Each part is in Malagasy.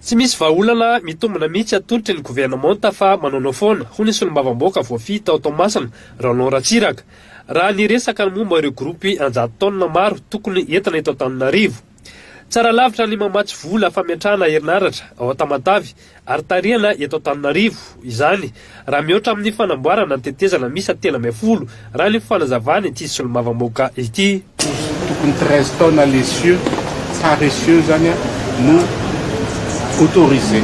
Tsy misy vahaolana mitombina mihitsy atolotry ny governemanta fa manaonao foana, hoy ny solombavambaoaka voafidy tao Toamasina, Roland Ratsiraka, raha niresaka ny momba ireo gropy an-jato taonina maro tokony entina eto Antananarivo. Tsara lavitra ny mamatsy vola fametrahana herinaratra ao Tamatave ary tarihana eto Antananarivo izany Raha mihoatra amin'ny fanamboarana ny tetezana miisa telo ambin'ny folo, raha ny fanazavan'ity solombavambahoaka ity. Tokony treize tonnes les cieux, tsara essieux izany an, no autorisé.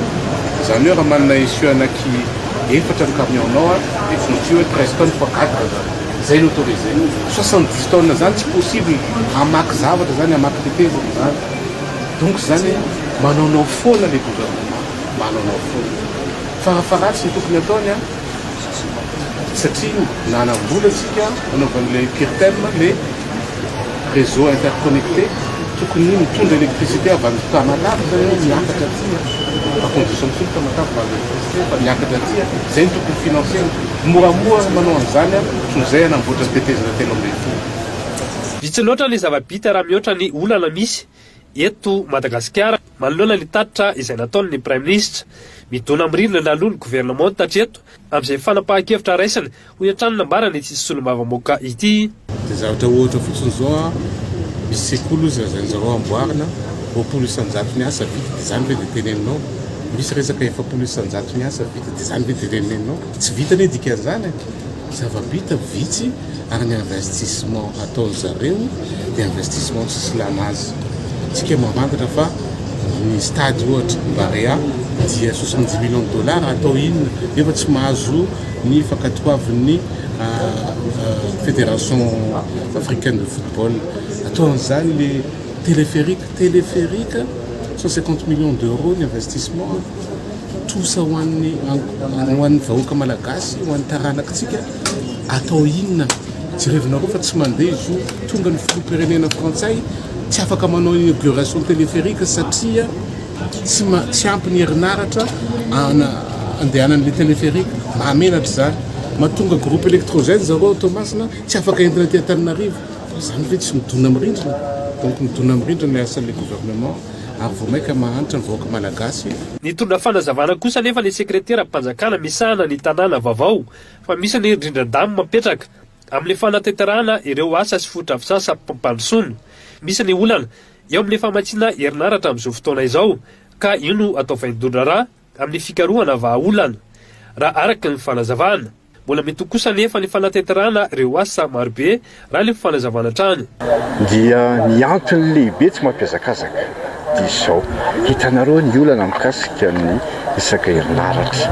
Izany hoe raha manana essieux anaky efatra ny camion-nao an, dia tsy maintsy hoe treize tonnes fois quatre izany. Izay no autorisé. Soixante dix tonnes izany tsy possible, hamaky zavatra izany, hamaky tetezana izany. Donc izany hoe manaonao foana ilay gouvernement, manaonao foana. Tsara faratsy ny tokony ataony an! satria nanam-bola isika nanaovana ilay PIRTEM, le réseau interconnecté, tokony mitondra électricité avy any Tamatave zany an, miakatra aty an, par condition fotsiny Tamatave mahazo électricité fa miakatra aty an, zay no tokony financer-ny, moramora ny manao an'izany an, toy izay hanamboatra ny tetezana telo ambin'ny folo. Vitsy loatra ny zava-bita raha mihoatra ny olana misy. Eto Madagasikara, manoloana ny tatitra izay nataony ny Praiminisitra, midona mirindrana aloha ny governemanta hatreto amin'izay fanapahan-kevitra raisiny, hoy hatrany ny nambaran' ity solombavambaoka ity. Dia zavatra ohatra fotsiny izao an, misy sekoly hozy lazain'ny zareo amboarina, roapolo isan-jato ny asa vita, dia izany ve dia teneninao? Misy resaka efapolo isan-jato ny asa vita, dia izany ve dia teneninao? Tsy vita anie dikan'izany e! Zava-bita vitsy ary ny investissement ataon-dry zareo dia investissement tsy silana azy. Tsika mambantatra fa ny stade ohatra Barea dia soixante dix millions de dollars atao inona nefa tsy mahazo ny fankatoavin'ny federation africaine de football. Atao an'izany le telepherique, telepherique cent cinquante millions d'euros ny investissement. Trosa ho an'ny ho an'ny vahoaka malagasy, ho an'ny taranakitsika, atao inona? Jerevinareo fa tsy mandeha izy io, tonga ny filoham-pirenena frantsay, tsy afaka manao inauguration téléphérique satria tsy ma tsy ampy ny herinaratra ana andehanan'ilay téléphérique, mahamenatra izany. Mahatonga groupe électrogène zareo ao Toamasina tsy afaka entina aty Antananarivo, izany ve tsy midona amin'ny rindrina? Donc midona amin'ny rindrina ilay asan'ilay gouvernement. ary vao mainka mahantra ny vahoaka Malagasy. Nitondra fanazavana kosa anefa ny sekreteram-panjakana misahana ny tanàna vaovao fa misy ny rindran-damo mapetraka amin'ny fanatanterahana ireo asa sy fotodrafisasampmpandrosoana. Misy ny olana eo amin'ny famatsiana herinaratra amin'izao fotoana izao ka io no atao vaindohan-draharaha. amin'ny fikarohana vahaolana. Raha araka ny fanazavana. Mbola mety ho kosa anefa ny fanatenterana ireo asa marobe, raha ilay fanazavana hatrany. Dia ny antony lehibe tsy mampihazakazaka dia izao, hitanareo ny olana mikasika ny resaka herinaratra.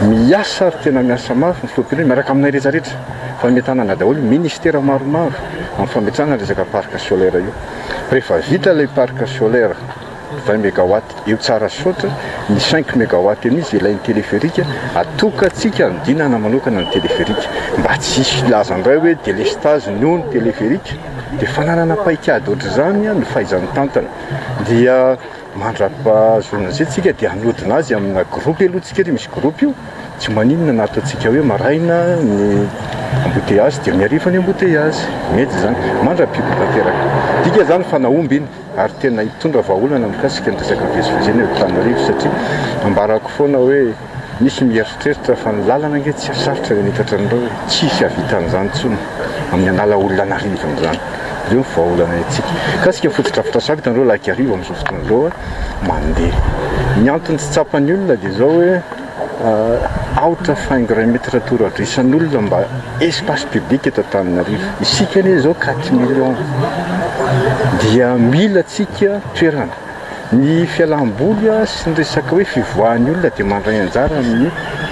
Miasa ary tena miasa mafy ny filoham-pirenena miaraka aminay rehetra rehetra, fa nomentanana daholo ny ministera maromaro amin'ny fametrahana ny resaka parc solaire io. Rehefa vita ilay parc solaire. vingt megawatt eo tsara sy sotra, ny cinq megawatt eo mihintsy ilain'ny téléphérique, atokantsika anodinana manokana ny téléphérique mba tsy hisy hilaza indray hoe délestage noho ny téléphérique dia fananana paikady ohatr'izany ny fahaiza mitantana dia mandrapahazoana an'izay tsika dia hanodina azy amina groupe aloha tsika ry misy groupe io tsy maninona na ataontsika hoe maraina ny embouteillage dia amin'ny hariva ny embouteillage mety izany, mandra-pibodoana teraka dika izany fa nahomby iny ary tena hitondra vahaolana mikasika ny resaka mivezivezy eny Antananarivo satria ambarako foana hoe misy mieritreritra fa ny lalana ange tsy hasarotra ny hanitatra anareo e! tsy hisy hahavita an'izany intsony amin'ny hanala olona an'arivony izany, ireo ny vahaolana hetsika mikasika fotodrafitrasa avy hitanareo lahik'arivo amin'izao fotoana izao mandeha, ny antony tsy tsapan'ny olona dia izao hoe. out of environment retour ato isan'olona mba espace public eto Antananarivo isika anie zao quatre millions dia mila tsika toerana ny fialam-boly sy ny resaka hoe fivoahan'ny olona dia mandray anjara amin'ny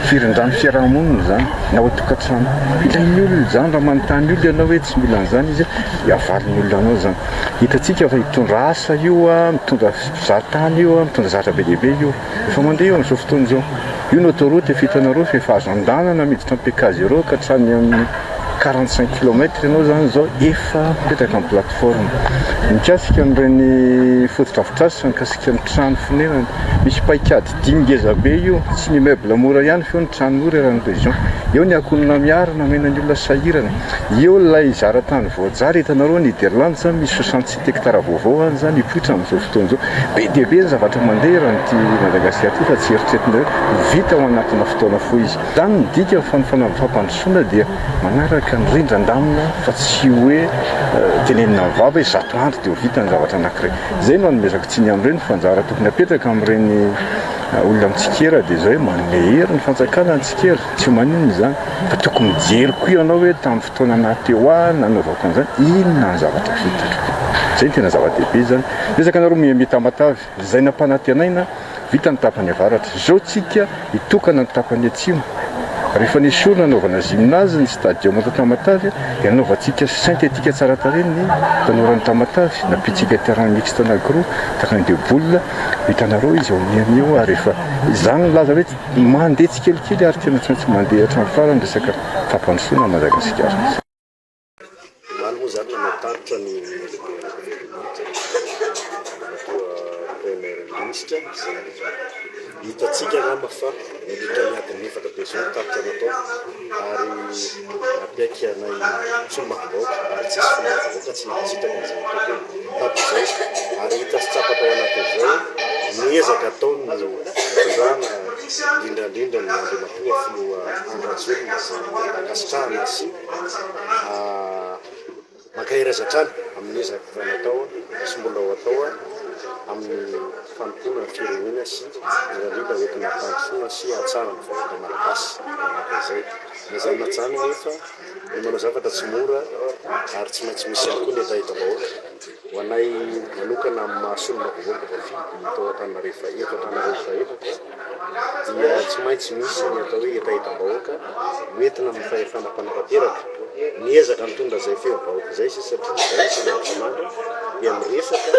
firindran'ny fiarahamonina zany na ao tokantrano ilain'ny olona zany raha manontany olona ianao hoe tsy mila an'izany izy dia avalin'ny olona anao zany hitantsika fa hitondra asa io a mitondra mpizahatany io a mitondra zatra be dia be io Efa mandeha io amin'izao fotoana izao. Io ny autoroute vita anareo fa efa azo andehanana miditra amin'ny Pk zéro ka hatrany amin'ny quarante cinq kilomètre ianao izany izao efa mipetraka amin'ny plateforme. Mikasika an'ireny fotodrafitrasa sy mikasika ny trano fonenana, misy paikady dimy ngeza be io, tsy ny immeuble mora ihany fa eo ny trano mora eran'ny région, eo ny ankohonana miaro namena ny olona sahirana, eo ilay zara-tany voajary hitanareo Niderlands misy sosan-tsena. Hekitara vaovao ho an'ny zany hipoitra amin'izao fotoana izao. Be dia be ny zavatra mandeha raha an'ity Madagasikara ity fa tsy eritreretina hoe ho vita ao anatina fotoana fohy izy. Izany no dika ny fanofanana ny fampandrosoana dia manaraka ny rindran-damina fa tsy hoe tenenina amin'ny vava hoe zato andro dia ho vita ny zavatra anankiray. Izay no anomezako tsiny amin'ireny fa anjara tokony apetraka amin'ireny olona mitsikera dia izao hoe manome hery ny fanjakana ny tsikera, tsy maninona izany fa tokony mijery koa ianao hoe tamin'ny Taona maro teo hoa nanaovako an'izany, inona ny zavatra vitako? Izay no tena zava-dehibe izany. Niezaka nareo mihambe tamatave, izay nampanantenaina, vita ny tapany avaratra. Izao tsika hitokana ny tapany atsimo. Rehefa nesorina hanaovana gymnase ny stadium ato Tamatave, dia nanaovantsika synthétique tsara tarehy ny tanoran'i Tamatave, nampiantsika terrain mixte anankiroa, terrain de boule, hitanareo izy ao miha miha eo, ary efa izany nilaza hoe mandeha tsikelikely ary tena tsy maintsy mandeha hatramin'ny farany resaka. fampandrosoana an'i Madagasikara. Omaly moa izany no nanatarika ny Toa Praimiera Minisitra izay hitantsika angamba fa mandritra ny adiny efatra be izao no tarika natao ary nampiaiky anay solombavambahoaka ary tsy hisy solombavambahoaka tsy nankasitraka an'izay ataoko hatrizao ary hita sy tsapa tao anatin'izao ny ezaka ataon'ny fitondrana indrindra indrindra ny Andriamatoa Filoha Andry Rajoelina izay nanakasitrahana sy mankahery azy hatrany amin'ny ezaka efa natao sy mbola ho atao amin'ny fanompoana ny firenena sy indrindra indrindra hoentina hampandrosoana sy hahatsara ny vahoaka malagasy manaraka izay. Na izany na izany anefa, ny manao zavatra tsy mora ary tsy maintsy misy ihany koa ny hetahetam-bahoaka. Ho anay manokana amin'ny maha solombavam-bahoaka voafidy tao Antananarivo Fahefatra anareo efa efatra, dia tsy maintsy misy ny atao hoe hetahetam-bahoaka hoentina amin'ny fahefana mpanapa-teraka. Miezaka mitondra izay fehim-bahoaka izay isika satria izahay isan'andro isan'andro dia miresaka,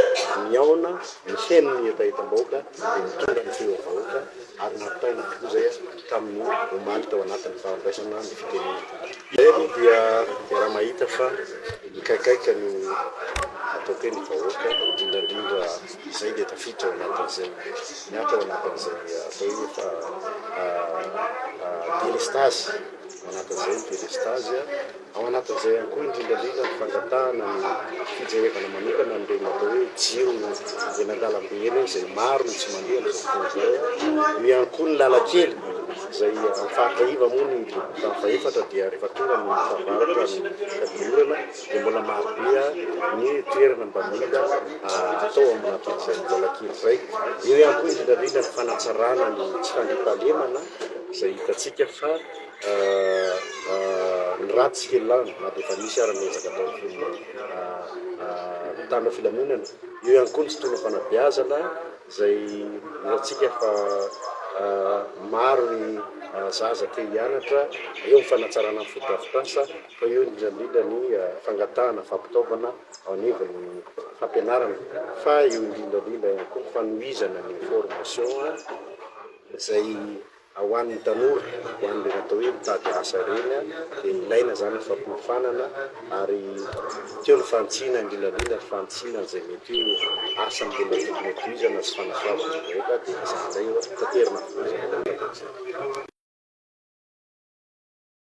mihaona, miheno ny hetahetam-bahoaka dia mitondra ny feom-bahoaka ary nampitaina tokoa izay hatramin'ny omaly tao anatin'ny fahandraisana ny fitenenana. Izay aloha dia iaraha-mahita fa mikaikaika ny ataoko hoe ny vahoaka indrindra indrindra. Izay dia tafiditra ao anatin'izay miato ao anatin'izay atao hoe fa delestazy ao anatin'izay ny delestazy a, ao anatin'izay ihany koa indrindra indrindra ny fangatahana ny fijerevana manokana an'ireny atao hoe jiro eny an-dalambe eny a, izay maro no tsy mandeha amin'izao fotoana izao a, eo ihany koa ny lalan-kely izay amin'ny faritra iva moa ny boriborintany fahefatra dia rehefa tonga ny fahavaratra ny fahadisorana. dia mbola marobe ny toerana mba mila atao amina toeran'izay mbola kely izay. Eo ihany koa indrindra indrindra ny fanatsarana ny tsy fandriampahalemana izay hitantsika fa ny ratsy kely lany na dia efa misy ary ny ezaka ataon'ny mpanao filaminana. Eo ihany koa ny fotoanam-panabeazana izay hitantsika fa maro ny zaza te hianatra, eo ny fanatsarana ny fotodrafitrasa. Fa eo indrindra indrindra ny fangatahana fampitaovana ao anivon'ny fampianarana, fa eo indrindra indrindra ihany koa ny fanohizana ny formation izay ho an'ny tanora, ho an'ireny atao hoe mitady asa ireny dia ilaina izany ny fampiofanana ary teo ny fahantsiana indrindra indrindra ny fahantsiana an'izay mety ho asa mbola tokony hotohizana sy fanasoavana ny vahoaka dia izany indray no taterina avokoa izany.